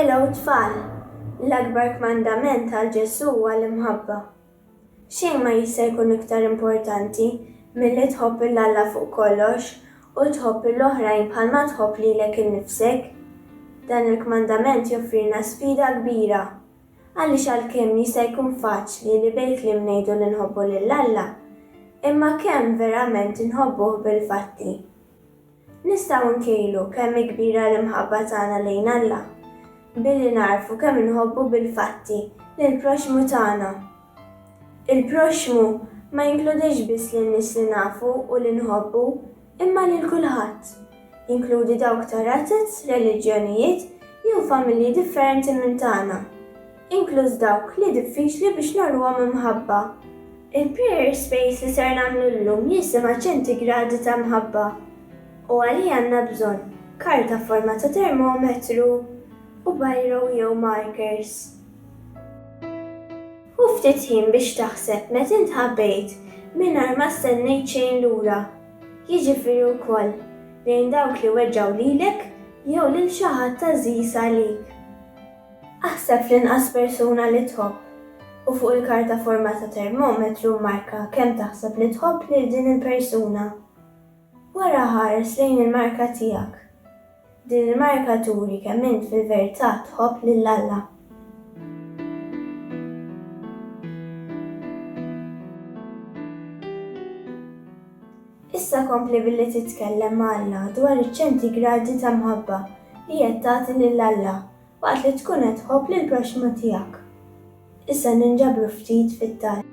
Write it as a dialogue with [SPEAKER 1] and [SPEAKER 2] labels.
[SPEAKER 1] Hello tfal! L-akbar kmandament għal Ġesù huwa l-imħabba. Xejn ma jista' jkun iktar importanti milli tħobb 'l Alla fuq kollox u tħobb 'l oħrajn bħalma tħobb lilek innifsek. Dan il-kmandament joffrilna sfida kbira, għaliex għalkemm jista' jkun faċli li bil-kliem ngħidu li nħobbu lil Alla, imma kemm verament inħobbuh bil-fatti? Nistgħu nkejlu kemm hi kbira l-imħabba tagħna lejn Alla billi nagħrfu kemm inħobbu bil-fatti lill-proxxmu tagħna. Il-proxxmu ma jinkludix biss lin-nies li nafu u li nħobbu, imma lil kulħadd. Jinkludi dawk ta' razez, reliġjonijiet, jew familji differenti minn tagħna. inkluż dawk li diffiċli biex nagħluhom imħabba. Il-Prayer Space li ser nagħmlu llum jisimha Ċentigradi ta' Mħabba, u għalih għandna bżonn karta f'forma ta' termometru u biro jew markers. Ħu ftit ħin biex taħseb meta int ħabbejt mingħajr ma stennejt xejn lura, jiġifieri wkoll lejn dawk li weġġgħu lilek jew lil xi ħadd għażiż għalik. Aħseb fl-inqas persuna li tħobb, u fuq il-karta forma ta' termometru mmarka kemm taħseb li tħobb lil din il-persuna. Wara ħares lejn il-marka tiegħek. Din il-marka turi kemm int fil-vertà tħobb lil Alla. Issa kompli billi titkellem ma' Alla dwar iċ-ċentigradi ta' mħabba li qed tagħti lil Alla waqt li tkun qed tħobb lill-proxxmu tiegħek. Issa ninġabru ftit fit-talb.